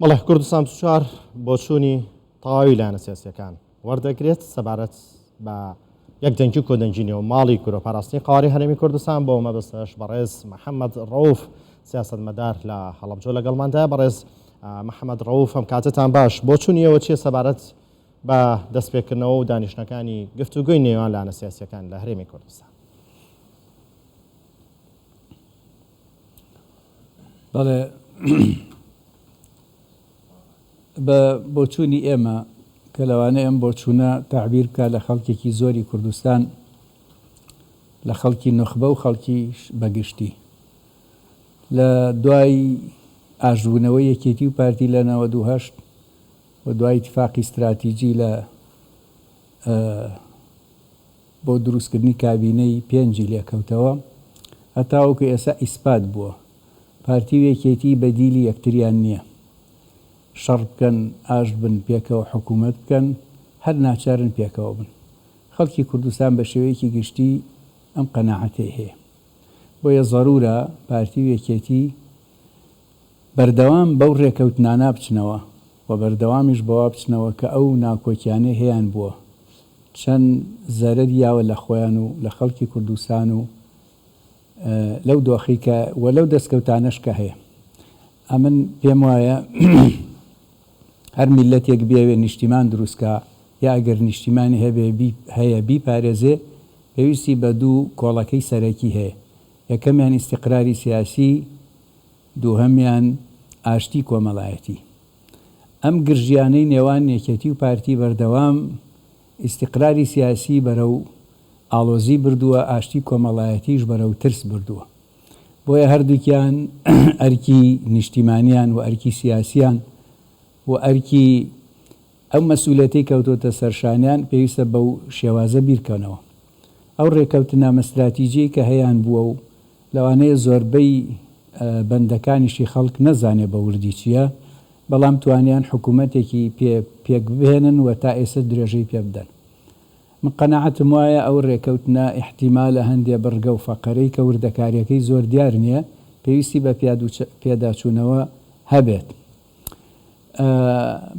بەڵێ کوردستان چوار بۆچوونی تەواوی لایەنە سیاسیەکان وەردەگرێت سەبارەت بە یەک دەنگی و کۆدەنگی نێو ماڵی کورە پاراستنی قواری هەرێمی کوردستان بۆ مەبەستەش بەڕێز محەممەد ڕوف سیاست مەدار لە هەڵبجۆ لەگەڵماندا بەڕێز محەممەد ڕوف ئەم کاتتان باش بۆچوونیەوە چیە سەبارەت بە دەستپێکردنەوە و دانیشتەکانی گفتوگوی نێوان لایەنە سیاسیەکان لە هەرێمی کوردستان بەڵێ بە بۆچوونی ئێمە کە لەوانەیە ئەم بۆچوونە تەعبیر بکات لە خەڵکێکی زۆری کوردستان لە خەڵکی نوخبە و خەڵکیش بەگشتی لە دوای ئاشبوونەوە یەکێتی و پارتی لە نەوە دوهشت و دوای تفاقی استراتیجی لە بۆ دروستکردنی کابینەی پێنجی لێکەوتەوە، هەتاوەکو ئێستا ئیسپات بووە پارتی و یەکێتی بەدیلی یەکتریان نییە، شەڕ بکەن، ئاشت بن، پێکەوە حکوومەت بکەن، هەر ناچارن پێکەوە بن. خەڵکی کوردستان بە شێوەیەکی گشتی ئەم قەناعەتەی هەیە. بۆیە زەروورە پارتی و یەکێتی. بەردەوام بەو رێکەوتنانە بچنەوە و بەردەوامیش بەوە بچنەوە کە ئەو ناکۆکیانەی هەیان بووە چەند زەرەری یاوە لە خۆیان و لە خەڵکی کوردستان و لەو دۆخەی کە و لەو دەستکەوتانەش کە هەیە ئەمن پێم وایە هەر میلەتێک بیاوێ نیشتیمان دروستکە یا ئەگەر نیشتیمانی هەبێ بی هەیە بیپارێزێ پێویستی بە دوو کۆڵەکەی سەرەکی هەیە یەکەمیان ئیستیقراری سیاسی دووهەمیان ئاشتی کۆمەڵایەتی. ئەم گرژییانەی نێوان یەکێتی و پارتی بەردەوام ئیستیقراری سیاسی بەرەو ئاڵۆزی بردووە، ئاشتی کۆمەڵایەتیش بەرەو ترس بردووە. بۆیە هەردووکیان ئەرکی نیشتیمانیان و ئەرکی سیاسیان و ئەرکی. ئەو مەسئولیەتەی کەوتۆتە سەرشانیان پێویستە بەو شێوازە بیرکەنەوە. ئەو رێکەوتنامە ستراتیجیەی کە هەیان بووە و لەوانەیە زۆربەی بەندەکانیشی خەڵک نەزانێ بە وردی چیە، بەڵام توانیان حکومەتێکی پێ پێک بهێنن و تا ئێسە درێژەی پێ بدەن. من قەناعەتم وایە ئەو رێکەوتنە ئیحتیمالە هەندێ بڕگە و فەقەرەی کە وردەکاریەکەی زۆر دیار نیە، پێویستی بە پیادوچ پیاداچوونەوە هەبێت.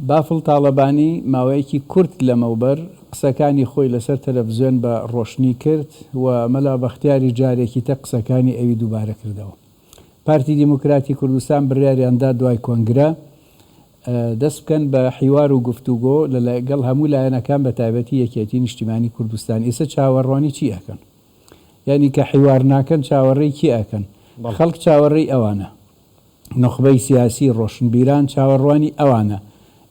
بافڵ تاڵەبانی ماوەیەکی کورت لەمەوبەر قسەکانی خۆی لەسەر تەلەفزیۆن بە ڕۆشنی کرد و مەلا بەختیاریش جارێکیتە قسەکانی ئەوی دووبارە کردەوە. پارتی دیموکراتی کوردستان بڕیاریان دا دوای کۆنگرە دەست بکەن بە حیوار و گفتوگۆ لەگەڵ هەموو لایەنەکان بەتایبەتی یەکێتی نیشتیمانی کوردستان ئیسە چاوەڕوانی چی ئەکەن؟ یانی کە حیوار ناکەن چاوەڕێی کێ ئەکەن؟ خەڵک چاوەڕێی ئەوانە. نوخبەی سیاسی ڕۆشنبیران چاوەڕوانی ئەوانە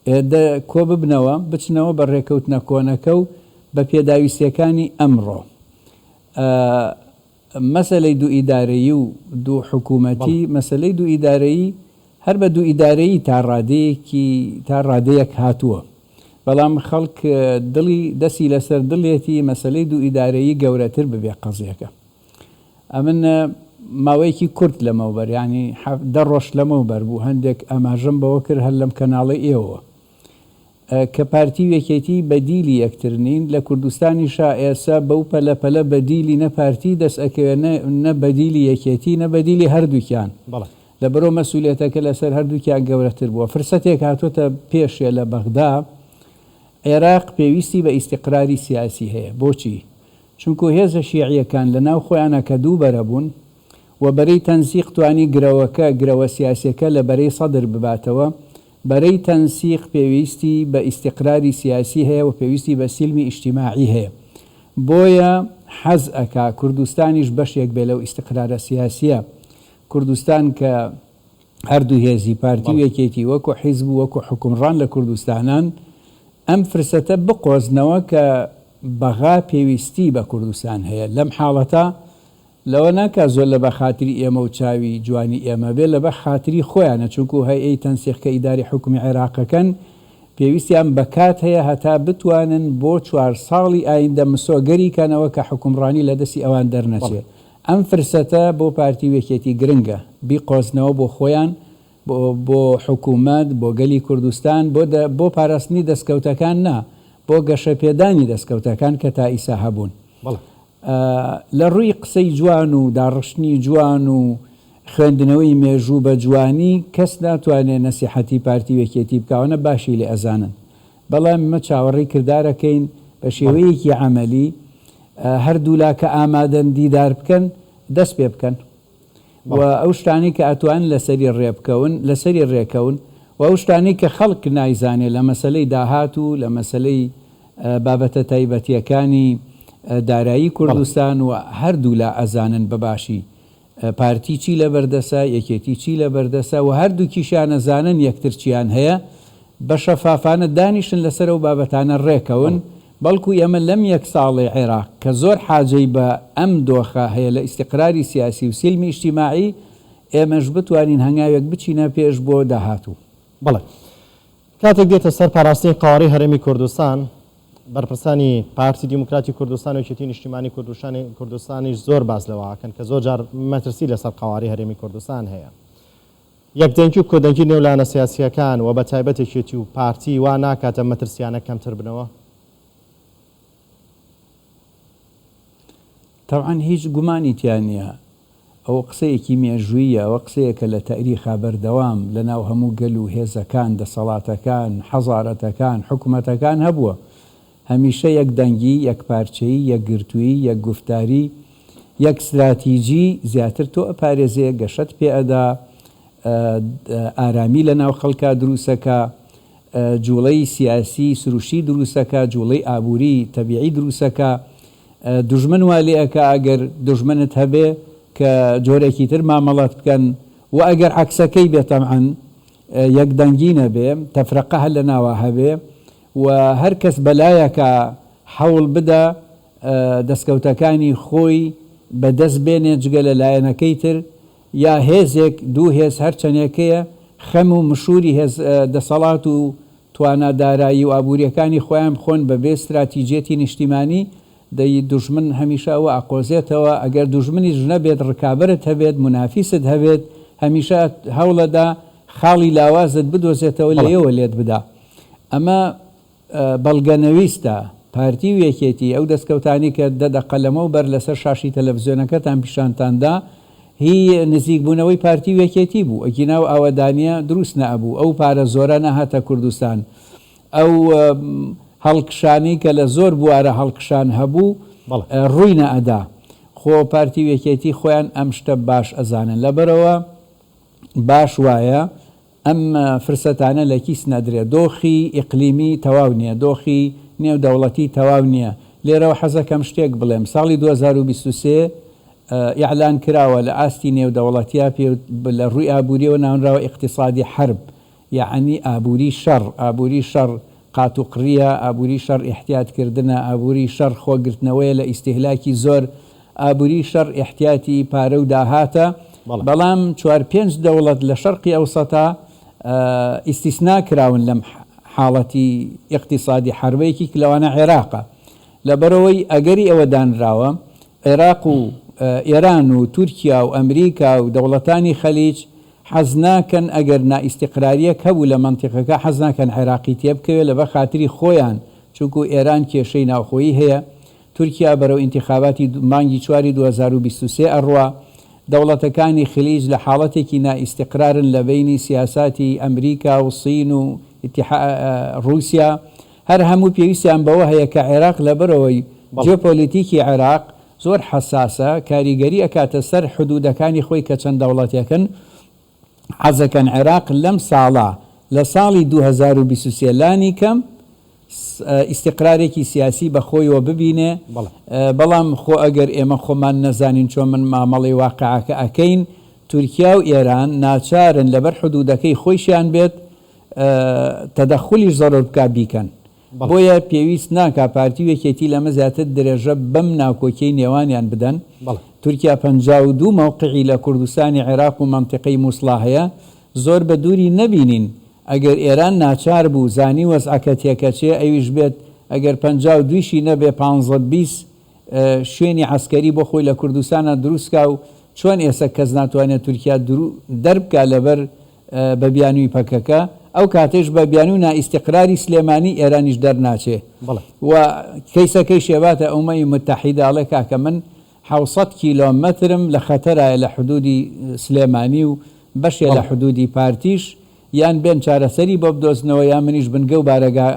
ئێدە کۆ ببنەوە بچنەوە بە ڕێکەوتنە کۆنەکە و بە پێداویستیەکانی ئەمڕۆ ئە مەسەلەی دوو ئیدارەیی و دوو حکوومەتی بەڵێ. مەسەلەی دوو ئیدارەیی هەر بە دوو ئیدارەیی تا ڕادەیەکی تا ڕادەیەک هاتووە بەڵام خەڵک دڵی دەسی لەسەر دڵێتی مەسەلەی دوو ئیدارەیی گەورەتر ببێ قەزیەکە. ئەمن ماوەیەکی کورت لەمەوبەر یانی حەفت دە ڕۆژ لەمەوبەر بوو هەندێک ئاماژەم بەوە کرد هەر لەم کەناڵەی ئێوەوە کە پارتی و یەکێتی بەدیلی یەکتر نین لە کوردستانیشا ئێسە بەو پەلە پەلە بەدیلی نە پارتی دەس ئەکەوێ نە نە بەدیلی یەکێتی نە بەدیلی هەردووکیان لەبەرئەوە مەسئولیەتەکە لەسەر هەردووکیان گەورەتر بووە فرسەتێک هاتۆتە پێشێ لە بەغدا عێراق پێویستی بە ئیستیقراری سیاسی هەیە بۆچی چونکوو هێزە شیعیەکان لە ناو خۆیانا کە دوو بەرە بوون و بەرەی تەنسیق توانی گرەوەکە، گرەوە سیاسیەکە، لە بەرەی سەدر بباتەوە، بەرەی تەنسیق پێویستی بە ئیستیقراری سیاسی هەیە و پێویستی بە سیلمی ئیشتیماعی هەیە بۆیە حەز ئەکا کوردستانیش بەشێک بێ لەو ئیستیقرارە سیاسیە کوردستان کە هەردوو هێزی پارتی و یەکێتی وەکو حیزب و وەکو حوکمڕان لە کوردستانان ئەم فرسەتە بقۆزنەوە کە بەغا پێویستی بە کوردستان هەیە لەم حاڵەتە لەوە ناکا زۆر لە بەخاتری ئێمە و چاوی جوانی ئێمە بێ لەبە خاتری خۆیانە چونکو هەیئەی تەنسیق کە ئیدارەی حوکمی عێراقەکەن پێویستیان بە کات هەیە هەتا بتوانن بۆ چوار ساڵی ئایندە مسۆگەری کەنەوە کە حوکمڕانی لە دەستی ئەوان دەرنەچێ ئەم فرسەتە بۆ پارتی و یەکێتی گرنگە بیقۆزنەوە بۆ خۆیان، بۆ حکومەت، بۆ گەلی کوردستان، بۆ بۆ پاراستنی دەستکەوتەکان نا، بۆ گەشەپێدانی دەستکەوتەکان کە تائیسا هەبوون. لە ڕووی قسەی جوان و داڕشتنی جوان و خوێندنەوەی مێژوو بە جوانی کەس ناتوانێ نەسیحەتی پارتی و یەکێتی بکا، ئەوانە باشی لێ ئەزانن. بەڵام ئێمە چاوەڕێی کردارەکەین بە شێوەیەکی عەمەلی هەردوولا کە ئامادەن دیدار بکەن دەست پێ بکەن و ئەو شتانەی کە ئەتوانن لەسەری ڕێ بکەون لەسەری ڕێکەون و ئەو شتانەی کە خەڵک نایزانێ لە مەسەلەی داهات و لە مەسەلەی بابەتە تایبەتییەکانی دارایی کوردستان و هەردوولا ئەزانن بە باشی پارتی چی لەبەردەسە، یەکێتی چی لەبەردەسە و هەردووکیشیان ئەزانن یەکتر چیان هەیە، بە شەفافانە دانیشن لەسەر ئەو بابەتانە ڕێکەون، بەڵکو ئێمە لەم یەک ساڵەی عێراق کە زۆر حاجەی بە ئەم دۆخە هەیە لە ئیستیقراری سیاسی و سیلمی ئیجتیماعی، ئێمەش بتوانین هەنگاوێک بچینە پێش بۆ داهاتوو. بەڵێ کاتێک دێتە سەر پاراستنی قەوارەی هەرێمی کوردستان، بەرپرسانی پارتی دیموکراتی کوردستان و یەکێتی نیشتیمانی کوردشانی کوردستانیش زۆر باس لەوە ئەکەن کە زۆر جار مەترسی لەسەر قەوارەی هەرێمی کوردستان هەیە. یەکدەنگی و کۆدەنگی نێو لایەنە سیاسییەکان و بەتایبەت یەکێتی و پارتی وا ناکات ئەم مەترسییانە کەمتر بنەوە؟ تەبعەن هیچ گومانی تیا نییە، ئەوە قسەیەکی مێژووییە، ئەوە قسەیەکە لە تەئریخا بەردەوام لە ناو هەموو گەل و هێزەکان، دەسەڵاتەکان، حەزارەتەکان، حکومەتەکان هەبووە. هەمیشە یەک دەنگی، یەک پارچەیی، یەک گرتوویی، یەک گوفتاری، یەک ستراتیجی زیاتر تۆ ئەپارێزێ، گەشەت پێ ئەدا، ئارامی لە ناو خەڵکا دروست ئەکا، جووڵەی سیاسی سروشتی دروست ئەکا، جووڵەی ئابووری تەبیعی دروست ئەکا. دوژمن وا لێ ئەکا ئەگەر دوژمنت هەبێ کە جۆرێکی تر مامەڵەت بکەن و ئەگەر عەکسەکەی بێ تەبعەن یەک دەنگی نەبێ تەفرەقە هەر لە ناوا هەبێ و هەر کەس بە لایەکا حەوڵ بدا دەسکەوتەکانی خۆی بە دەست بێنێ جگە لە لایەنەکەی تر یا هێزێک، دوو هێز هەر چەنێکەیە، خەم و مشووری هێز، دەسەڵات و توانا دارایی و ئابوورییەکانی خۆیان بخۆن بە بێ ستراتیجیەتی نیشتیمانی، دەی دوژمن هەمیشە ئەوە ئەقۆزێتەوە، ئەگەر دوژمنیش نەبێت ڕکابەرت هەبێت، مونافیست هەبێت، هەمیشە هەوڵەدا خاڵی لاوازت بدۆزێتەوە لێیەوە لێت بدا. ئەمە. بەڵگەنەویستە، پارتی و یەکێتی ئەو دەستکەوتانەی کە دە دەقە لەمەو بەر لەسەر شاشەی تەلەفزیۆنەکەتان پیشانتان دا، هی نزیک بوونەوەی پارتی و یەکێتی بوو، ئەگینا ئەو ئاوەدانیە دروست نەئەبوو، ئەو پارە زۆرە نەهاتە کوردستان، ئەو هەڵکشانەی کە لە زۆر بوارە هەڵکشان هەبوو ڕووی نەئەدا، خۆ پارتی و یەکێتی خۆیان ئەم شتە باش ئەزانن، لەبەرئەوە باش وایە ئەم فرسەتانە لە کیس نەدرێ. دۆخی ئیقلیمی تەواو نییە، دۆخی نێودەوڵەتی تەواو نییە. لێرەوە حەزەکەم شتێک بڵێم. ساڵی دوو هەزار و بیست و سێ ئیعلان کراوە لە ئاستی نێودەوڵەتیا پێوت لە ڕووی ئابوورییەوە ناونراوە ئیقتیسادی حەرب یەعنی ئابووری شەڕ، ئابووری شەڕ قات و قڕییە، ئابووری شەڕ ئیحتیات کردنە، ئابووری شەڕ خۆ گرتنەوەیە لە ئیستیهلاکی زۆر، ئابووری شەڕ ئیحتیاتی پارە و داهاتە، بەڵام چوار پێنج دەوڵەت لە شەرقی ئەوسەتا ئیستیسنا کراون لەم حاڵەتی ئیقتیسادی حەربە یەکیک لەوانە عێراقە لەبەرئەوەی ئەگەری ئەوە دانراوە عێراق و ئێران و تورکیا و ئەمریکا و دەوڵەتانی خەلیج حەز ناکەن ئەگەر نائیستیقراریەک هەبوو لە مەنتیقەکە حەز ناکەن عێراقی تێبکەوێت لەبەر خاتری خۆیان چونکوو ئێران کێشەی ناوخۆیی هەیە تورکیا بەرەو ئینتیخاباتی مانگی چواری دوو هەزار و بیست و سێ ئەڕوا دەوڵەتەکانی خلیج لە حاڵەتێکی نائیستیقرارن لە بەینی سیاساتی ئەمریکا و صین و ئیتیحا ڕووسیا هەر هەموو پێویستیان بەوە هەیە کە عێراق لەبەرەوەی جیۆپۆلیتیکی عێراق زۆر حەساسە کاریگەری ئەکاتە سەر حدودەکانی خۆی کە چەند دەوڵەتێکن حەزەکەن عێراق لەم ساڵە لە ساڵی دوو هەزار و بیست و سێ لانی کەم ئیستیقرارێکی سیاسی بە خۆیەوە ببینێ بەڵام خۆ ئەگەر ئێمە خۆمان نەزانین چۆن من مامەڵەی واقعەکە ئەکەین تورکیا و ئێران ناچارن لەبەر حدودەکەی خۆیشیان بێت تەدەخولیش زەرۆر بکات بیکەن بۆیە پێویست ناکا پارتی و یەکێتی لەمە زیاتر درێژە بەم ناکۆکیەی نێوانیان بدەن، تورکیا پەنجا و دوو مەوقعی لە کوردستانی عێراق و مەنتیقەی موسڵا هەیە، زۆر بە دووری نەبینین ئەگەر ئێران ناچار بوو زانی وەزعەکە تێکەچێ ئەویش بێت ئەگەر پەنجا و دوویشی نەبێ پانزە بیست شوێنی عەسکەری بۆ خۆی لە کوردستانا دروست کا و چۆن ئێسە کەس ناتوانێ تورکیا دەربکا لەبەر بە بیانووی پەکەکە، ئەو کاتەیش بە بیانووی و نائیستیقراری سلێمانی ئێرانیش دەرناچێ و کەیسەکەی شێباتە ئومەی موتەحیدە ئەڵێ کاکە من حەوت سەد کیلۆمەترم لە خەتەرایە لە حدوودی سلێمانی و بەشێ لە حدوودی پارتیش یان بێن چارەسەری بۆ بدۆزنەوە یان منیش بنگە و بارەگا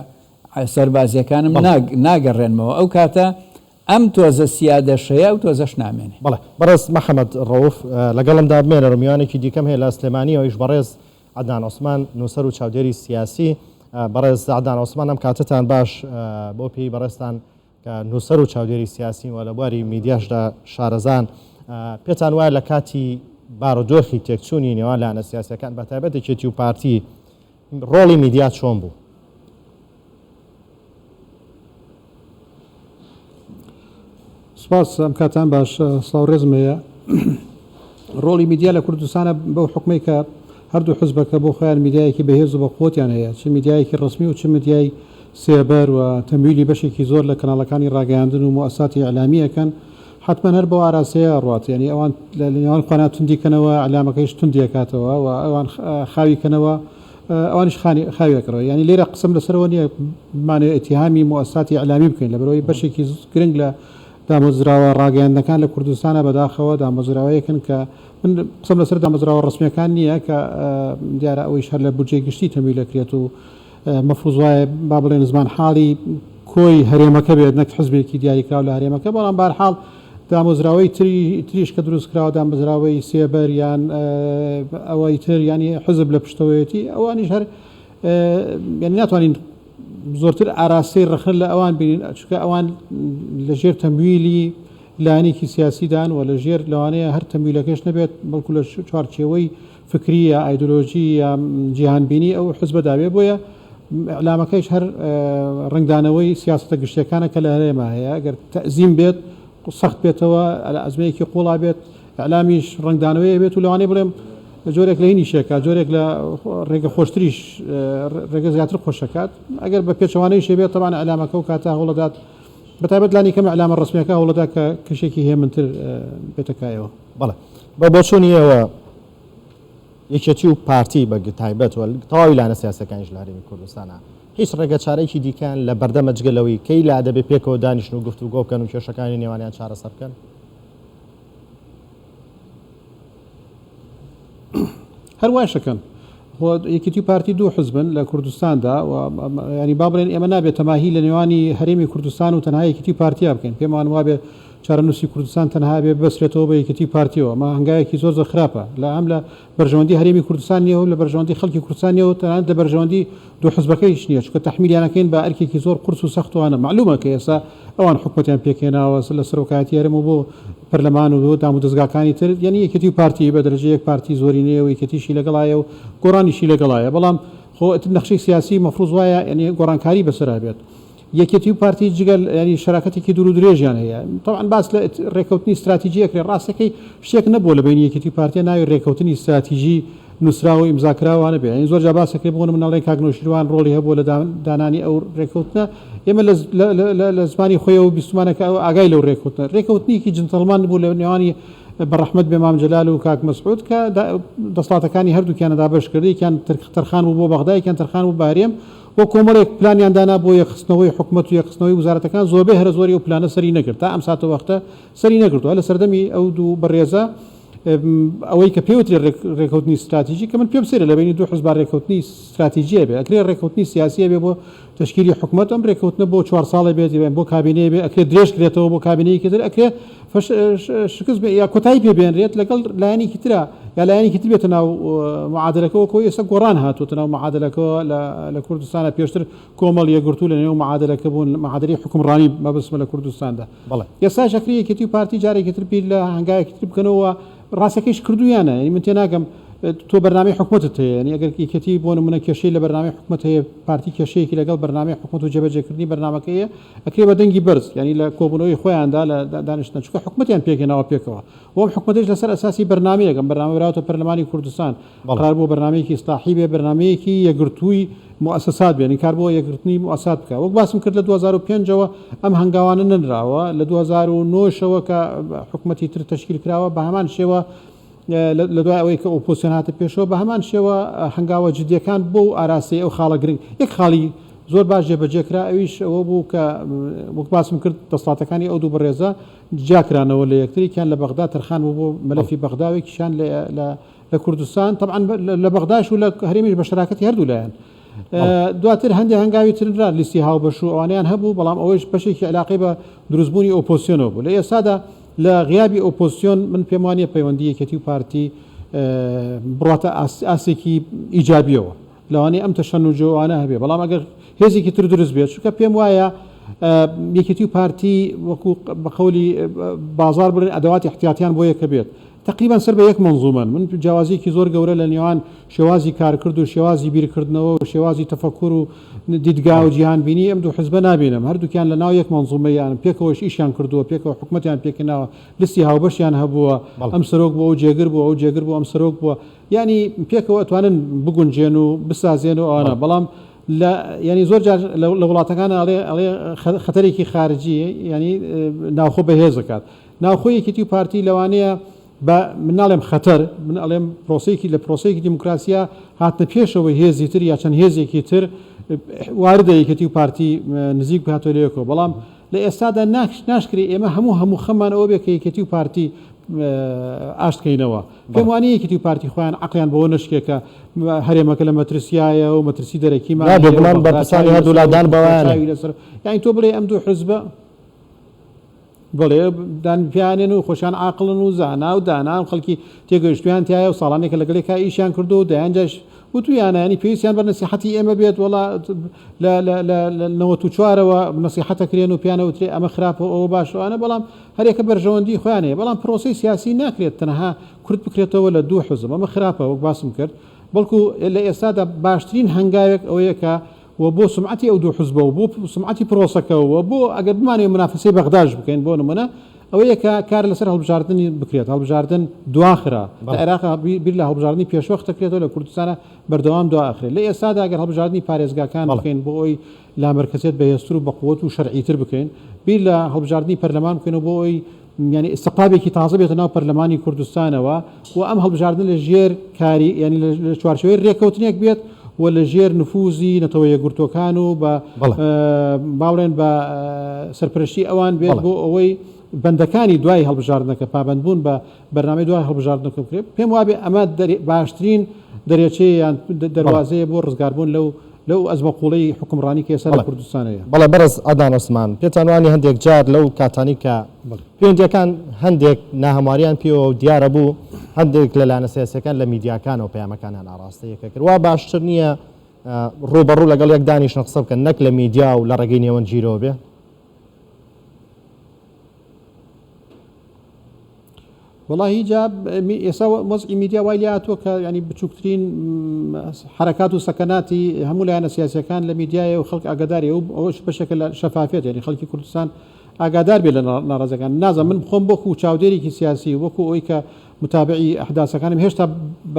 سەربازییەکانم ناگەڕێنمەوە ئەو کاتە ئەم تۆزە سیادەشەیە ئەو تۆزەش نامێنێ. بەڵێ بەڕێز محمد ڕەوف لەگەڵمدا بمێنەر و میوانێکی دیکەم هەیە لە سلێمانی ئەویش بەڕێز عەدنان عوسمان نوسەر و چاودێری سیاسی بەڕێز عەدنان عوسمان ئەم کاتەتان باش بۆ پێی بەڕێزتان کە نوسەر و چاودێری سیاسی و لە بواری میدیاشدا شارەزان پێتان وایە لە کاتی بارودۆخی تێکچوونی نێوان لایەنە سیاسیەکان بە تایبەت یەکێتی و پارتی ڕۆڵی میدیا چۆن بوو؟ سپاس ئەم کاتان باش سلاو ڕێزم هەیە ڕۆڵی میدیا لە کوردستانە بەو حکومی کە هەردوو حزبەکە بۆ خۆیان میدایەکی بەهێز و بەقوتیان هەیە چ میدایەکی ڕسمی و چ میدیای سێبەر و تەمویلی بەشێکی زۆر لە کەناڵەکانی ڕاگەیاندن و موساتی ئەلامیەکەن حەتمەن هەر بەو ئاراستەیە ئەڕوات یانی ئەوان لە نێوان خۆیان توندی کەنەوە ئیعلامەکەیش توندی ئەکاتەوە و ئەوان خاوی کەنەوە ئەوانیش خانی خاوی ئەکڕن یانی لێرە قسەم لەسەرەوە نییە بمانەوێ ئیتیهامی موئەسساتی ئیعلامی بکەین لەبەرئەوەی بەشێکی گرنگ لە دامەزراوە ڕاگەیاندنەکان لە کوردستانە بەداخەوە دامەزراوەیەکن کە من قسەم لەسەر دامەزراوە ڕەسمییەکان نییە کە دیارە ئەوەیش هەر لە بودجەی گشتی تەمویل ئەکرێت و مەفروز وایە با بڵێن زمانحاڵی کۆی هەرێمەکە بێت نەک حزبێکی دیاریکراو لە هەرێمەکە، بەڵام بەهەرحاڵ دامەزراوەی تری تریش کە دروستکراوە دامەزراوەی سێبەر یان ئەوەی تر یانی حزب لە پشتەوەیەتی ئەوانیش هەر یانی ناتوانین زۆرتر ئاراستەی ڕەخنە لە ئەوان بینین چونکە ئەوان لەژێر تەمویلی لایەنێکی سیاسیدان و لەژێر لەوانەیە هەر تەمویلەکەش نەبێت بەڵکو لە چوارچێوەی فکری یا ئایدۆلۆژی یا جیهان بینی ئەو حزبەدا بێ بۆیە ئیعلامەکەیش هەر ڕەنگدانەوەی سیاسەتە گشتیەکانە کە لە هەرێما هەیە ئەگەر تەزیم بێت سەخت بێتەوە ئەزمەیەکی قوڵا بێت ئیعلامیش ڕەنگدانەوەی بێت و لەوانەیە بڵێم جۆرێک لە هینی شێکە جۆرێک لە ڕێگە خۆشتریش ڕێگە زیاتر خۆشەکات ئەگەر بە پێچەوانەی شێبێت تەوان ئەلامەکە و کاتە هەوڵەدات بەتابەت لانی کەمە ئەلامە ڕسمەکە هەوڵەدا کە کەشێکی هێمنتر بێتەکایەوە بەڵێ بە بۆچوونی ئێوە یەکێتی و پارتی بە تایبەت و تەواوی لانە سیاسەکانیش لە هەرێمی کوردستانە هیچ ڕێگە چارەیەکی دیکەیان لە بەردەمە جگە لەوەی کەی لا دەبێ پێکەوە دانیشن و گفتوگۆ بکەن و کێشەکانی نێوانیان چارەسەر بکەن هەر وایش دەکەن. خۆ یەکێتی و پارتی دوو حزبن لە کوردستاندا و یانی با بڵێن ئێمە نابێت تەماهی لە نێوانی هەرێمی کوردستان و تەنها یەکێتی و پارتیا بکەین. پێمان وابێ چارەنووسی کوردستان تەنها ئەبێ ببەسرێتەوە بە یەکێتی و پارتییەوە. ئەمە هەنگاوێکی زۆر زۆر خراپە لە هەم لە بەرژەوەندی هەرێمی کوردستان نییە و لە بەرژەوەندی خەڵکی کوردستان نییە و تەنانەت لە بەرژەوەندی دوو حزبەکە هیچ نیە چونکە تەحمیلیان ئەکەین بە ئەرکێکی زۆر قورس و سەخت و ئانە مەعلومە کە ئێستا ئەوان حکومەتیان پێک هێناوە لە سەرۆکایەتی هەرێم و بۆ پەرلەمان و بۆ دامودەزگاکانی تر یەنی یەکێتی و پارتی بە دەرەجە یەک پارتی زۆرینەیە و یەکێتیشی لەگەڵایە و گۆڕانیشی لەگەڵایە بەڵام خۆ ئەتر نەخشەی سیاسی مەفروز وایە یەنی گۆڕانکاری بەسەرا بێت یەکێتی و پارتی جگە ینی شەراکەتێکی دوور و درێژیان هەیە تەوان باس لە رێکەوتنی استراتیجی ئەکرێ ڕاستەکەی شتێک نەبووە لە بینی یەکێتی و پارتیە ناوی رێکەوتنی استراتیجی نووسراوە ئیمزاکراوانە بێ این زۆر جا باسەکرێ بۆ منەڵێن کاک نۆشیروان ڕۆڵی هەبووە لە دانانی ئەو رێکەوتنە ئێمە لە زمانی خۆیەوە بیستمانەکە ئەو ئاگای لەو رێکەوتنە رێکەوتنیکی جنتەڵمان بوو لە نێوانی بەڕەحمەت بێ مام جەلال و کاک مەسعود کە دەسڵاتەکانی هەردووکیانە دابش کرد یەکیان ترخان بوو بۆ بەغدایکیان ترخان بوو بارێم و کۆمەڵێک پلانیان دانا بۆ یەکخستنەوەی حکومەت و یەکخستنەوەی وزارەتەکان، زۆربەی هەرە زۆری ئەو پلانە سەری نەگرت، تا ئەم ساتەوەختە سەری نەگرتووە، لە سەردەمی ئەو دوو بەڕێزە ئەوەی کە پێوترێ رێکەوتنی ستراتیجی، کە من پێم سەیرە لە بەینی دوو حزبا رێکەوتنی ستراتیجیە بێ، ئەکرێ رێکەوتنی سیاسیە بێ بۆ تەشکیلی حکومەت، ئەم رێکەوتنە بۆ چوار ساڵێ بێت، یان بۆ کابینەیە بێ، ئەکرێ درێژ کرێتەوە بۆ کابینەیەکی تر، ئەکرێ. شکست بێ یا کۆتایی پێ بێنرێت لەگەڵ لایەنێکی ترا یا لایەنێکی تر بێتە ناو معادلەکەەوە کۆی ئێستا گۆڕان هاتووتە ناو معادلەکەەوە لە کوردستانە پێشتر کۆمەڵ یەگرتو لە نێو معادلەکە بوون معادری حکومڕانی مەبسمە لە کوردستاندا بڵێ ئێستا شەکری یەکێتی و پارتی جارێکی تر پیر لە هەنگایەکی تر بکەنەوە ڕاستەکەیش کردویانە یعنی من تێناگەم تۆ بەرنامی حکومەتت هەیە ینی ئەگەر یەکێتی بۆ نمونە کێشەی لە بەرنامی حکومەت هەیە پارتی کێشەیەکی لەگەڵ بەرنامی حکومەت و جێبەجێکردنی بەرنمەکەیە ئەکرێ بە دەنگی بەرز یانی لە کۆبونەوەی خۆیاندا لە دانیشتنە چونکە حکومەتیان پێکهێناوە پێکەوە و ئەم حکومەتەیش لەسەر ئەساسی بەرنامەیەک ئەم بەرنامە براوەتە پەرلەمانی کوردستان قەرار بووە بەرنامەیەکی ئیسلاحی بێ بەرنامەیەکی یەکگرتووی موئەسەسات بێ نین کار بۆ یەکگرتنی موئەسات بکا وەک باسم کرد لە دوو هەزار و پێنج ەوە ئەم هەنگاوانە نەنراوە لە دوو هەزار و نۆ شەوە کە حکومەتی تر تەشکیل کراوە بە هەمان شێوە لە دوای ئەوەی کە ئۆپۆزسیۆن هاتە پێشەوە بە هەمان شێوە هەنگاوە جدیەکان بۆ و ئاراستەی ئەو خاڵە گرنگ یەک خاڵی زۆر باش جێبەجێ کرا ئەویش ئەوە بوو کە وەک باسم کرد دەسڵاتەکانی ئەو دوو بەڕێزە جیاکرانەوە لە یەکتری کیان لە بەغدا تەرخان بوو بۆ مەلەفی بەغداوێکیشان لە کوردستان طبعا لە بەغداش و لە هەرێمیش بە شراکەتی هەردوو لایەن دواتر هەندێک هەنگاوی تررا لیستی هاوبەش و ئەوانیان هەبوو بەڵام ئەوەیش بەشێکی علاقی بە دروستبوونی ئۆپۆسیۆنەوە بوو لە ئێستادا لە غیابی ئۆپۆزسیۆن من پێم وانیە پەیوەندی یەکێتی و پارتی بڕاتە ئاستێکی ئیجابیەوە لەوانەیە ئەم تەشەنوجۆوانە هەبێ بەڵام ئەگەر هێزێکی تر دروست بێت چونکە پێم وایە یەکێتی و پارتی وەکو بەقولی بازار بڵێن ئەدەواتی احتیاتیان بۆ یەکە بێت تەقریبەن سەر بە یەک مەنزوومەن. من جیاوازییەکی زۆر گەورە لە نێوان شێوازی کارکرد و شێوازی بیرکردنەوە و شێوازی تەفەکور و دیدگا و جیهانبینیی ئەم دوو حزبە نابینم. هەردووکیان لە ناو یەک مەنزوومەیان، پێکەوەش ئیشیان کردووە، پێکەوە حکومەتیان پێکهێناوە، لیستی هاوبەشیان هەبووە، ئەم سەرۆک بوو، ئەو جێگر بوو، ئەو جێگر بوو، ئەم سەرۆک بووە. یانی پێکەوە ئەتوانن بگونجێن و بسازێن و ئەوانە. بەڵام لە یانی زۆر جار لە وڵاتەکان ئەڵێ ئەڵێ خەتەرێکی خارجی یانی ناوخۆ بەهێز ئەکات. ناوخۆی یەکێتی و پارتی لەوانەیە بە من ناڵێم خەتەر، من ئەڵێم پرۆسەیەکی لە پرۆسەیەکی دیموکراسییە هاتنە پێشەوەی هێزی تر یا چەند هێزێکی تر واردە یەکێتی و پارتی نزیک بکاتەوە لە یەکەوە، بەڵام لە ئێستادا ناشکرێ ئێمە هەموو هەموو خەممان ئەوە بێ کە یەکێتی و پارتی ئاشت کەینەوە. پێم وا نییە یەکێتی و پارتی خۆیان عەقڵیان بەوە نەشکێ کە هەرێمەکە لە مەترسیایە و مەترسی دەرەکیمان هەیە و بەغدا چاوی لەسەرە و تورکیا چاوی لەسەرە. یانی تۆ بڵێی ئەم دوو حزبە. بەڵێ دان پیانێن و خۆشیان عاقڵن و زانا و دانان خەڵکی تێگەیشتویان تایە و ساڵانێکە لەگەڵێکا ئیشیان کردو و دەیان جاش وتویانە ینی پێویستیان بە نەسیحەتی ئێمە بێت وەڵا لە لە لە لە نەوەت و چوارەوە نەسیحەت ئەکرێن و پێیان ئەوترێ ئەمە خراپە و ئەوە باشە و ئەنە بەڵام هەرێکە بەرژەوەندی خۆیان هەیە بەڵام پرۆسەی سیاسی ناکرێت تەنها کورت بکرێتەوە لە دوو حزب ئەمە خراپە وەک باسم کرد بەڵکو لە ئێستادا باشترین هەنگاوێک ئەوەیە کە و بۆ سومعەتی ئەو دوو حزبە و بۆ سومعەتی پرۆسەکە و بۆ ئەگەر بمانەوێت منافەسەی بەغداش بکەین بۆ نمونە ئەوەیە کە کار لەسەر هەڵبژاردنی بکرێت هەڵبژاردن دواخرا لە عێراق بیر لە هەڵبژاردنی پێشوەخت دەکرێتەوە لە کوردستانە بەردەوام دوا ئەخرێت لە ئێستادا ئەگەر هەڵبژاردنی پارێزگاکان بکەین بۆ ئەوی لامەرکەزیەت بەهێزتر و بەقوەت و شەرعیتر بکەین بیر لە هەڵبژاردنی پەرلەمان بکەینەوە بۆ ئەوی یانی ئیستقابێکی تازە بێتە ناو پەرلەمانی کوردستانەوە و ئەم هەڵبژاردنە لە ژێر کاری یانی لە چوارچێوەی رێککەوتنێک بێت و لە ژێر نفوزی نەتەوە یەکگرتووەکان و بە باڵێن بە سەرپەرشتی ئەوان بێت بۆ ئەوەی بەندەکانی دوای هەڵبژاردنەکە پابندبوون بە بەرنامەی دوای هەڵبژاردنەکە بکرێت پێم وابێ ئەمە باشترین دەرێچەیە یان دەروازەیە بۆ ڕزگاربوون لەو لەو ئەزمە قوڵەی حوکمڕانی کە ئێستا لە کوردستان هەیە. بەڵێ بەڕێز عەدنان عوسمان، پێتان وانیە هەندێک جار لەو کاتانەی کە پەیوەندییەکان هەندێک ناهەموارییان پێوە دیارە بوو، هەندێک لە لایەنە سیاسییەکان لە میدیاکانەوە پەیامەکانیان ئاڕاستەی یەکە کرد، وا باشتر نییە ڕووبەڕوو لەگەڵ یەک دانیشن قسە بکەن، نەک لە میدیا و لە ڕێگەی نێوەندگیرەوە بێ؟ وەڵا هیجاب ئێسا وەزعی میدیا وای لێهاتووە کە یانی بچووکترین حرەکات و سەکەناتی هەموو لایەنە سیاسەکان لە میدیایە و خەڵک ئاگاداری و ئەوەش بەشێکە لە شەفافێت یعنی خەڵکی کوردستان ئاگادار بێ لە ناڕازەکان نازە من خۆم بۆکو و چاودێرێکی سیاسی وەکو ئەوی کە متابعی ئەحداسەکانم هێشتا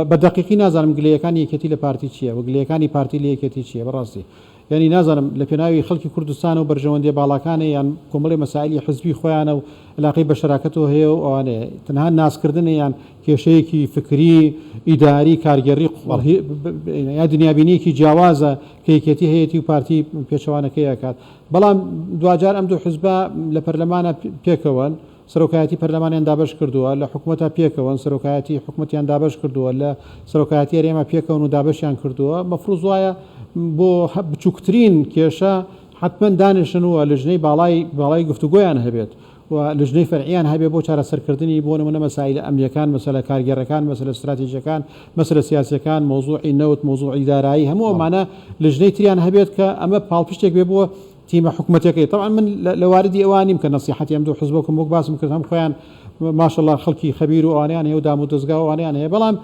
بە دقیقی نازانم گلەیەکانی یەکێتی لە پارتی چییە و گلەکانی پارتی لە یەکێتی چییە بەڕاستی یانی نازانم لە پێناوی خەلکی کوردستانەو بەرژەوەندیە باڵاکانێ یان کۆمەڵێ مەسائیلی حزبی خۆیانە و علاقەی بەشەراکەتەوە هەیە و ئەوانەیە تەنها ناسکردنە یان کێشەیەکی فکری ئیداری کارگێڕی قوڵە یا دنیابینیەکی جیاوازە کە یەکێتی هەیەتی و پارتی پێچەوانەکەی ئەکات بەڵام دواجار ئەم دوو حزبە لە پەرلەمانە پێکەوەن سەرۆکایەتی پەرلەمانیان دابەش کردووە لە حکومەتا پێکەوەن سەرۆکایەتی حکومەتیان دابەش کردووە لە سەرۆکایەتی هەرێما پێکەوەن و دابەشیان کردووە مەفروز وایە بۆ بچوکترین کێشە حەتمەن دانیشن و لجنەی باڵای باڵای گفتوگۆیان هەبێت و لجنەی فەرعیان هەبێت بۆ چارەسەرکردنی بۆ نمونە مەسائیلە ئەمنیەکان مەسەلە کارگێڕەکان مەسەلە ستراتیژەکان مەسەلە سیاسیەکان مەوزوعی نەوت مەوزوعی دارایی هەموو ئەمانە لجنەی تریان هەبێت کە ئەمە پاڵپشتێک بێ بۆ تیمە حکومەتیەکەی تەبعەن من لە واردی ئەوە نیم کە نەسیحەتی ئەم دوو حزبە بکەم وەک باسم کرد هەم خۆیان ماشەڵا خەڵکی خەبیر و ئەوانیان هەیە و دام و دەزگا و ئەوانیان هەیە بەڵام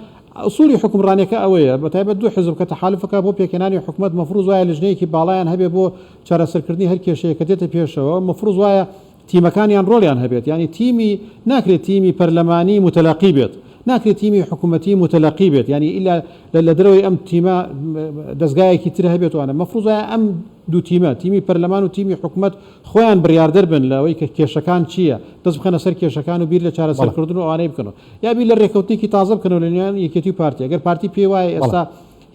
ئەسوڵی حکومڕانیەکە ئەوەیە بە تایبەت دوو حزب کە تەحالفەکە بۆ پێکێنانی حکومەت مەفروز وایە لژنەیەکی باڵایان هەبێ بۆ چارەسەرکردنی هەر کێشەیە کە دێتە پێشەوە مەفروز وایە تیمەکانیان ڕۆڵیان هەبێت یانی تیمی ناکرێت تیمی پەرلەمانی موتەلەقی بێت ناکرێت تیمی حکومەتی موتەلەقی بێت یانی ئیلا لە دەرەوەی ئەم تیمە دەزگایەکی تر هەبێت وانە مەفروزایە ئەم دوو تیمە تیمی پەرلەمان و تیمی حکومەت خۆیان بڕیاردەر بن لەوەی کە کێشەکان چییە دەست بخەنە سەر کێشەکان و بیر لە چارەسەرکردن و ئەوانەی بکەنەوە یابی لە ڕێکەوتنێکی تازە بکەنەوە لە نێوان یەکێتی و پارتی ئەگەر پارتی پێی وایە ئێستا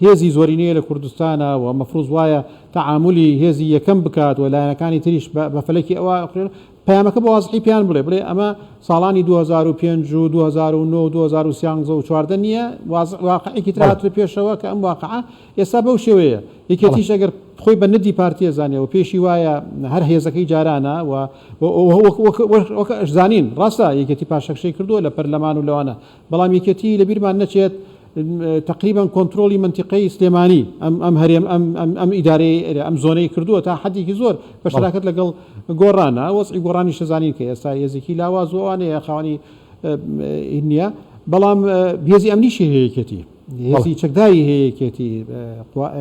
هێزی زۆرینەیە لە کوردستانا و مەفروز وایە تەعامولی هێزی یەکەم بکات و لایەنەکانی تریش بە بە فەلەکی ئەوا ئەخورێن پەیامەکە بە وازحی پێیان بڵێ بڵێ ئەمە ساڵانی دوو هەزار و پێنج و دوو هەزار و نۆ و دوو هەزار و سیانزە و چواردە نییە وازح واقعێکی تر بەڵێ هاتووە پێشەوە کە ئەم واقعە ئێستا بەو شێوەیە بەڵێ یەکێتیش ئەگەر خۆی بە ندی پارتی ئەزانێ و پێیشی وایە هەر هێزەکەی جارانە و و و وەک وەک وەک وەک ئەشزانین ڕاستە یەکێتی پاشەکشەی کردووە لە پەرلەمان و لەوانە بەڵام یەکێتی لەبیرمان نەچێت تەقریبەن کۆنترۆڵی مەنتیقەی سلێمانی ئەم ئەم هەرێم ئەم ئەم ئەم ئیدارەی ئێرە ئەم زۆنەی کردووە تا حەدێکی زۆر بە بەڵێ شەراکەت لەگەڵ گۆڕانە وەزعی گۆڕانیش دەزانین کە ئێستا هێزێکی لاواز و ئەوانەیە خاوەنی ئین نییە بەڵام هێزی ئەمنیشی هەیە یەکێتی هێزی چەکداری هەیە یەکێتی،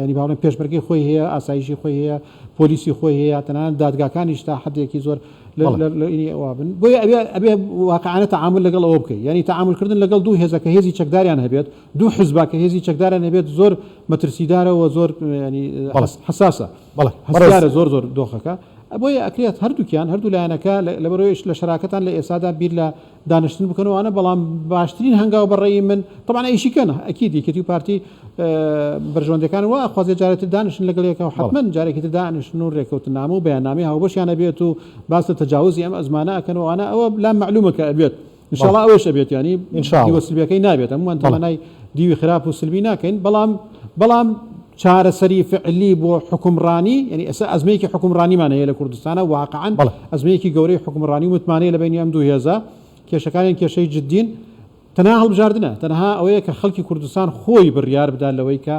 یانی با بڵێم پێشمەرگەی خۆی هەیە، ئاسایشی خۆی هەیە، پۆلیسی خۆی هەیە، تەنانەت دادگاکانیش تا حەدێکی زۆر لەینی ئەوە بن. بۆیە ئەبێ واقعانە تەعامول لەگەڵ ئەوە بکەیت، یانی تەعامولکردن لەگەڵ دوو هێزە کە هێزی چەکداریان هەبێت، دوو حزبە کە هێزی چەکداریان هەبێت زۆر مەترسیدارە و زۆر حەساسە، هەستیارە زۆر زۆر دۆخەکە. بۆیە ئەکرێت هەردووکیان، هەردوو لایەنەکە لەبەرئەوەیش لە شەراکەتان لە ئێستادا بیر لە دانیشتن بکەن و ئەوانە بەڵام باشترین هەنگاو بە ڕێی من تەبان ئەیشی کەن ئەکید یەکێتی و پارتی بەرژەوەندەکان وا خوازێ جارێتتر دانیشن لەگەڵ یەکەوە حتممەن جارێکی تر دانیشن و ڕێکەوتنامە و بەیاننامی هاوبەشیانە بێت و باس لە تەجاوزی ئەم ئەزمانە ئەکەن وانە ئەوە لا معلومە کە ئەبێت انشاءالله ئەوەش ئەبێت ینی دیوە سلبیەکەی نابێت هەمووان تەمەنای دیوی خراپ و سلبی ناکەین بەڵام بەڵام چارەسەری فعلی بۆ حوکمڕانی یەنی ئێستا ئەزمەیەکی حوکمڕانیمان هەیە لە کوردستانا واقعەن ئەزمەیەکی گەورەی حوکمڕانی و متمانەیە لە بەینی ئەم دوو هێزە کێشەکانیان کێشەی جدین تەنها هەڵبژاردنە تەنها ئەوەیە کە خەڵکی کوردستان خۆی بڕیار بدات لەوەی کە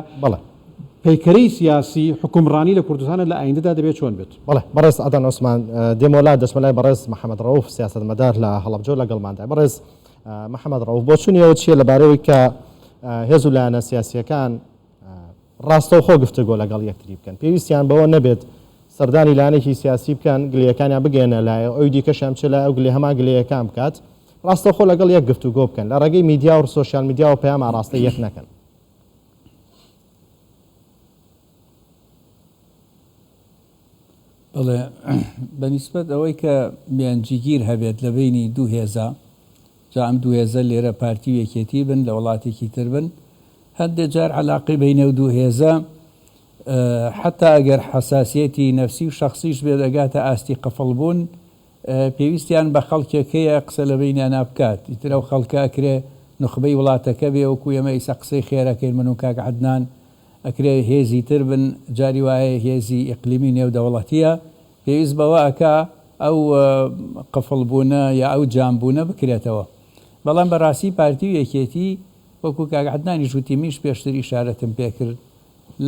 پەیکەرەی سیاسی حوکمڕانی لە کوردستانە لە ئایندەدا دەبێت چۆن بێت. بەڵێ بەڕێز عەدنان عوسمان دێمەوە لات دەچمە لای بەڕێز محەمەد ڕەوف سیاسەتمەدار لە هەڵەبجە و لەگەڵماندای بەڕێز محەمەد ڕەوف بۆچوونی ئێوە چییە لەبارەی ئەوەی کە هێز و لایەنە سیاسییەکان ڕاستەوخۆ گفتوگۆ لەگەڵ یەکتری بکەن، پێویستیان بەوە نەبێت سەردانی لایەنێکی سیاسی بکەن، گلەیەکانیان بگەیەننە لای ئەوی دیکەشیان بچێت لای ئەو گلەی هەمان گلەیەکان بکات، ڕاستەوخۆ لەگەڵ یەک گفتوگۆ بکەن، لە ڕێگەی میدیا و سۆشیال میدیاوە پەیام ئاڕاستەی یەک نەکەن. بەڵێ، بە نیسبەت ئەوەی کە بیانجیگیر هەبێت لە بەینی دوو هێزە، جا ئەم دوو هێزە لێرە پارتی و یەکێتی بن لە وڵاتێکی تر بن هەندێ جار عەلاقەی بەینە و دوو هێزە حەتا ئەگەر حەساسیەتی نەفسی و شەخسیش بێت ئەگاتە ئاستی قفڵ بوون پێویستیان بە خەڵکێک هەیە قسە لە بەینیانا بکات ئیتر ئەو خەڵکە ئەکرێ نوخبەی وڵاتەکە بێ وەکو ئێمە ئیسە قسەی خێرەکەین من و کاک عەدنان ئەکرێ هێزی تر بن جاری وایە هێزی ئیقلیمی نێودەوڵەتیە پێویست بەوە ئەکا ئەو قفڵ بوونە یا ئەو جام بوونە بکرێتەوە بەڵام بەڕاستی پارتی و یەکێتی وەکو کاک عەدنانیش وتی منیش پێشتر ئیشارەتم پێ کرد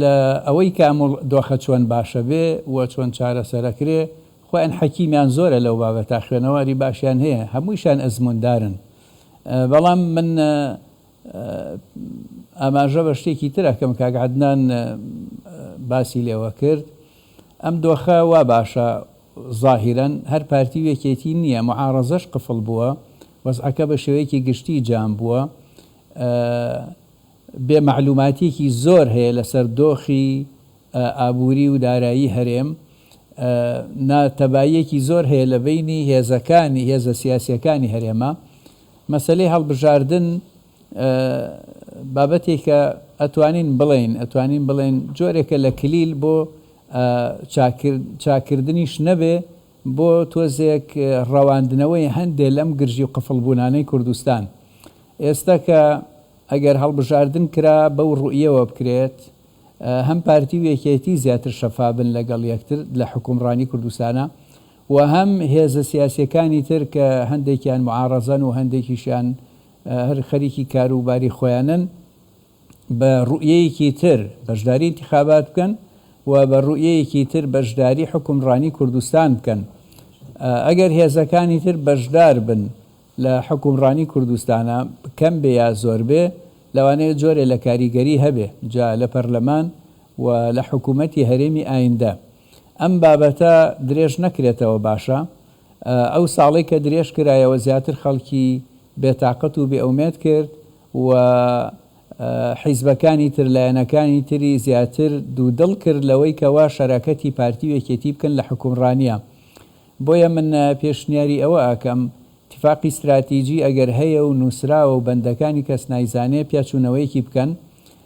لە ئەوەی کە ئەم دۆخە چۆن باشە بێ و چۆن چارەسەرەکرێ خۆیان حەکیمیان زۆرە لەو بابەتە خوێنەواری باشیان هەیە هەموویشان ئەزمووندارن بەڵام من ئاماژە بە شتێکی تر ئەکەم کاک عەدنان باسی لێوە کرد ئەم دۆخە وا باشە زاهیرەن هەر پارتی و یەکێتی نییە معارەزەش قفڵ بووە، وەزعەکە بە شێوەیەکی گشتی جام بووە. بێ مەعلووماتییەکی زۆر هەیە لەسەر دۆخی ئابووری و دارایی هەرێم. نا تەباییەکی زۆر هەیە لە بەینی هێزەکانی هێزە سیاسییەکانی هەرێمە. مەسەلەی هەڵبژاردن. بابەتێکە ئەتوانین بڵێین ئەتوانین بڵێین جۆرێکە لە کلیل بۆ چاککردنیش نەبێ بۆ تۆزێک ڕەواندنەوەی هەندێ لەم گرژی و قفڵ بوونانەی کوردستان ئێستا کە ئەگەر هەڵبژاردن کرا بەو ڕوئیەوە بکرێت هەم پارتی و یەکێتی زیاتر شەفابن لەگەڵ یەکتر لە حکومڕانی کوردستانا و هەم هێزە سیاسیەکانی تر کە هەندێکیان معاڕەزەن و هەندێکیشیان هەر خەریکی کارو باری خۆیانن بە روئیەیەکی تر بەشداری انتخابات بکەن و بە روئیەیەکی تر بەشداری حوکم رانی کوردستان بکەن ئەگەر هێزەکانی تر بەشدار بن لە حوکم رانی کوردستانا کەم بێ یا زۆر بێ لەوانەیە جۆرێ لە کاریگەری هەبێ جا لە پەرلەمان و لە حکومەتی هەرێمی ئایندە ئەم بابەتە درێژ نەکرێتەوە باشە. ئەو ساڵەی کە درێژ کرایەوە زیاتر خەڵکی بێ تاقەت و بێ ئومێد کرد و حیزبەکانی تر لایەنەکانی تری زیاتر دوو دڵ کرد لەوەی کەوا شەراکەتی پارتی و یەکێتی بکەن لە حوکمڕانیا بۆیە من پێشنیاری ئەوە ئەکەم تفاقی ستراتیجی ئەگەر هەیە و نوسراوە و بەندەکانی کەس نایزانێ پیا چونەوەیەکی بکەن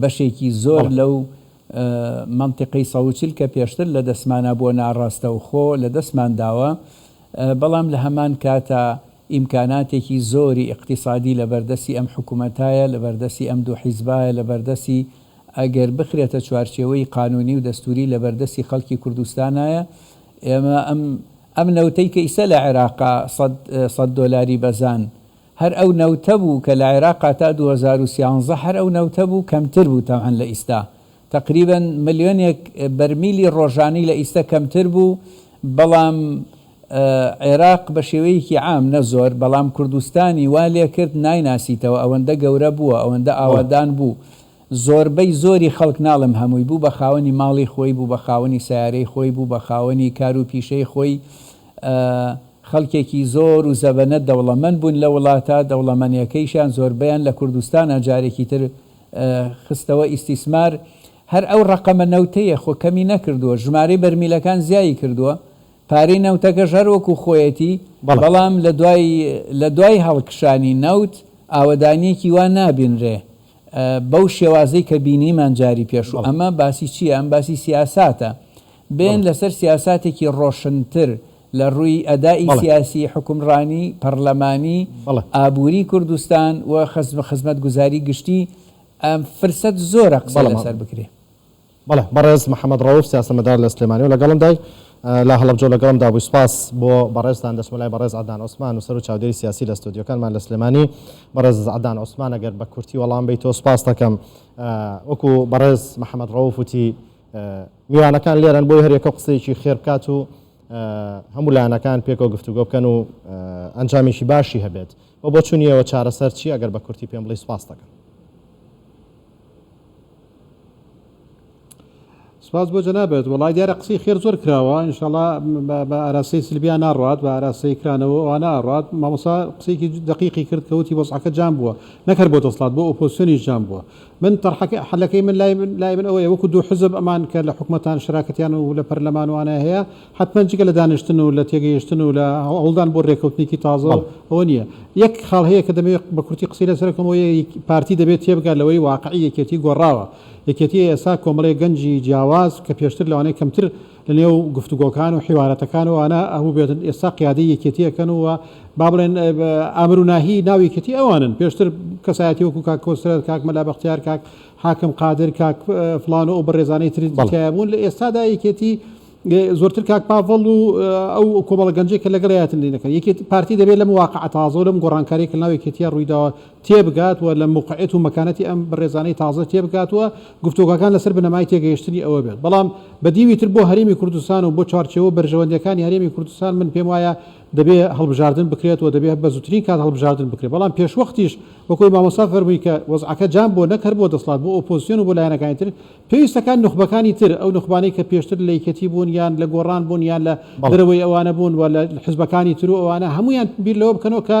بەشێکی زۆر لەو مەنتیقەی سەد و چل کە پێشتر لە دەستمانا بووە ناڕاستەوخۆ لە دەستمان داوە، بەڵام لە هەمان کاتا ئیمکاناتێکی زۆری ئیقتیسادی لە بەردەستی ئەم حکومەتایە، لە بەردەستی ئەم دوو حیزبایە، لە بەردەستی ئەگەر بخرێتە چوارچێوەی قانوونی و دەستووری لە بەردەستی خەڵکی کوردستانایە. ئێمە ئەم ئەم نەوتەی کە ئیستە لە عێراقا سەد سەد دۆلاری بەزان، هەر ئەو نەوتە بوو کە لە عێراقا تا دوو هەزار و سیانزە هەر ئەو نەوتە بوو کەمتر بوو تەبعەن لە ئیستا تەقریبەن ملیۆنێک بەرمیلی ڕۆژانەی لە ئیستا کەمتر بوو بەڵام عێراق بە شێوەیەکی عام نە زۆر بەڵام کوردستانی وا لێکرد نایناسیتەوە ئەوەندە گەورە بووە ئەوەندە ئاوەدان بوو زۆربەی زۆری خەڵک ناڵێم هەمووی، بوو بە خاوەنی ماڵی خۆی، بوو بە خاوەنی سەیارەی خۆی، بوو بە خاوەنی کار و پیشەی خۆی، خەڵکێکی زۆر و زەبەنە دەوڵەمەند بوون لە وڵاتە دەوڵەمەنێکەیشیان زۆربەیان لە کوردستانا جارێکی تر خستەوە ئیستیسمار هەر ئەو ڕەقەمە نەوتەیە خۆ کەمی نەکردووە ژمارەی بەرمیلەکان زیایی کردووە پارەی نەوتەکەش هەر وەکو خۆیەتی بەڵام لە دوای لە دوای هەڵکشانی نەوت ئاوەدانیەکی وا نابینرێ بەو شێوازەی کە بینیمان جاری پێش و ئەمە باسی چیە ئەم باسی سیاساتە بێن لەسەر سیاساتێکی ڕۆشنتر لە ڕووی ئەدائی سیاسی حکومڕانی پەرلەمانی ئابووری کوردستان و خزمەتگوزاری گشتی فرسەت زۆرە قسە لەسەر بکرێ. بەڵێ بەڕێز محمد ڕەوف سیاسەتمەدار لە سلێمانی و لەگەڵم دای لە هەڵەبجە و لەگەڵم دا بووی سپاس بۆ بەڕێزتان دەچمە لای بەڕێز عەدنان عوسمان نووسەر و چاودێری سیاسی لە ستۆدیۆکانمان لە سلێمانی بەڕێز عەدنان عوسمان ئەگەر بە کورتی وەڵام بی تۆ سپاس دەکەم وەکو بەڕێز محمد ڕەوف وتی میوانەکان لێرەن بۆی هەرێکە قسەیەکی خێر بکات و هەموو لایەنەکان پێکەوە گفتوگۆ بکەن و ئەنجامێکی باشی هەبێت و بۆ چونیەوە چارەسەر چی ئەگەر بە کورتی پێم بڵی سپاس دەکەم سپاس بۆ جەنابێت وڵای دیارە قسەی خێر زۆر کراوە انشاءڵا بە ئاراسی سلبیا ناڕات بە ئاراسی کرانەوە ئەوانە ئاڕات مامۆسا قسەیەکی دقیقی کرد کەوتی وەزعەکە جام بووە نەکەر بۆ دەسڵات بۆ ئۆپۆسیۆنی جام بووە من تەرحەکە حلەکەی من لای من لای من ئەوەیە وەکو دوو حزب ئەمان کە لە حکومەتان شراکەتیان و لە پەرلەمانوانە هەیە حەتمەن جگە لە دانیشتن و لە تێگەیشتن و لە هەوڵدان بۆ رێکەوتنێکی تازە و بەڵێ. ئەوە نییە. یەک خاڵ هەیە کە دەمەوێت بە کورتی قسەی لەسەر بکەم، ئەوەیە ی پارتی دەبێت تێبگات لەوەی واقعی یەکێتی گۆڕاوە. یەکێتی ئێستا کۆمەڵەی گەنجی جیاواز کە پێشتر لەوانەیە کەمتر لە نێو گفتوگۆکان و حیوارەتەکان و ئەوانە هەبووبێتن، ئێستا قیادەی یەکێتییەکەن و با بڵێن ئامر و ناهیی ناو یەکێتی ئەوانن. پێشتر کەسایەتی وەکوو کاک کۆسرەت، کاک مەلا بەختیار، کاک حاکم قادر، کاک فڵان و ئەو بەڕێزانەی تر تیایابوون، لە ئێستادا یەکێتی زۆرتر کاک پاڤڵ و ئەو کۆمەڵە گەنجەی کە لەگەڵ یایەتن لێ نەکەن یەکێت پارتی دەبێت لەم واقعە تازە و لەم گۆڕانکاریە کە لەناو یەکێتیە ڕوویداوە تێبگات و لە موقعیەت و مەکانەتی ئەم بەڕێزانەی تازە تێبگات و گفتۆگاکان لەسەر بنەمای تێگەیشتنی ئەوە بێت بەڵام بە دیوی تر بۆ هەرێمی کوردستان و بۆ چوارچێوە بەرژەوەندیەکانی هەرێمی کوردستان من پێم وایە دەبێ هەڵبژاردن بکرێت و دەبێت بە زووترین کات هەڵبژاردن بکرێت بەڵام پێشوەختیش وەکۆی مامۆستا فەرمووی کە وەزعەکە جام بۆ نەک هەر بۆ دەسڵات بۆ ئۆپۆزسیۆن و بۆ لایەنەکانی تر پێویستە کە نوخبەکانی تر، ئەو نوخبانەی کە پێشتر لە یەکێتی بوون یان لە گۆڕان بوون یان لە بەڵێ. دەرەوەی ئەوانە بوون و لە حزبەکانی تر و ئەوانە، هەموویان بیر لەوە بکەنەوە کە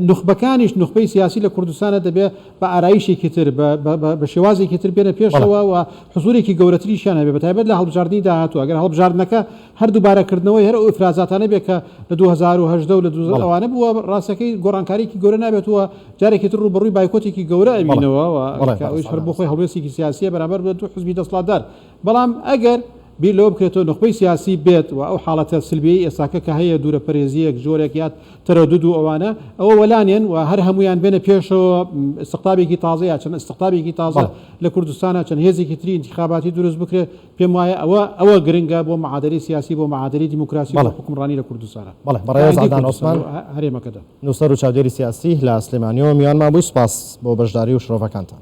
نوخبەکانیش، نوخبەی سیاسی لە کوردستانە دەبێ بە ئارایشێکی تر، بە بە بە شێوازێکی تر بێنە بەڵێ. پێشەوە و حزورێکی گەورەتریشیان هەبێ بە تایبەت لە هەڵبژاردنی داهاتوو. ئەگەر هەڵبژاردنەکە هەر دوبارە کردنەوەی هەر ئەو ئیفرازاتانە بێت کە لە دوو هەزار و هەژدە و لە دوو هەزار ئەوانە بووە ڕاستەکەی گۆڕانکاریەکی گەورە نابێت و جارێکی تر ڕووبەڕووی بایکۆتێکی گەورە ئەبینەوە و کە ئەویش هەر بۆ خۆی هەڵوێستێکی سیاسیە بەرامبەر بە دوو حزبی دەسڵاتدار بەڵام ئەگەر بیر لەوە بکرێتەوە نوخبەی سیاسی بێت و ئەو حاڵەتە سلبیەی ئێستاکە کە هەیە دوورە پەرێزیەک جۆرێک یات تەرەدود و ئەوانە ئەوە وەلانێن و هەر هەموویان بێنە پێشەوە ئیستقطابێکی تازە یا چەند ئیستقطابێکی تازە لە کوردستانە چەند هێزێکی تری ئینتیخاباتی دروست بکرێت پێم وایە ئەوە ئەوە گرنگە بۆ معادەلەی سیاسی بۆ معادەلەی دیموکراسی و بۆ حوکمڕانی لە کوردستان بەڵێ بەڕێز عەدنان عوسمان هەرێمەکەدا نووسەر و چاودێری سیاسی لە سلێمانیەوە میوانمان بووی سوپاس بۆ بەشداری و شرۆڤەکانتان.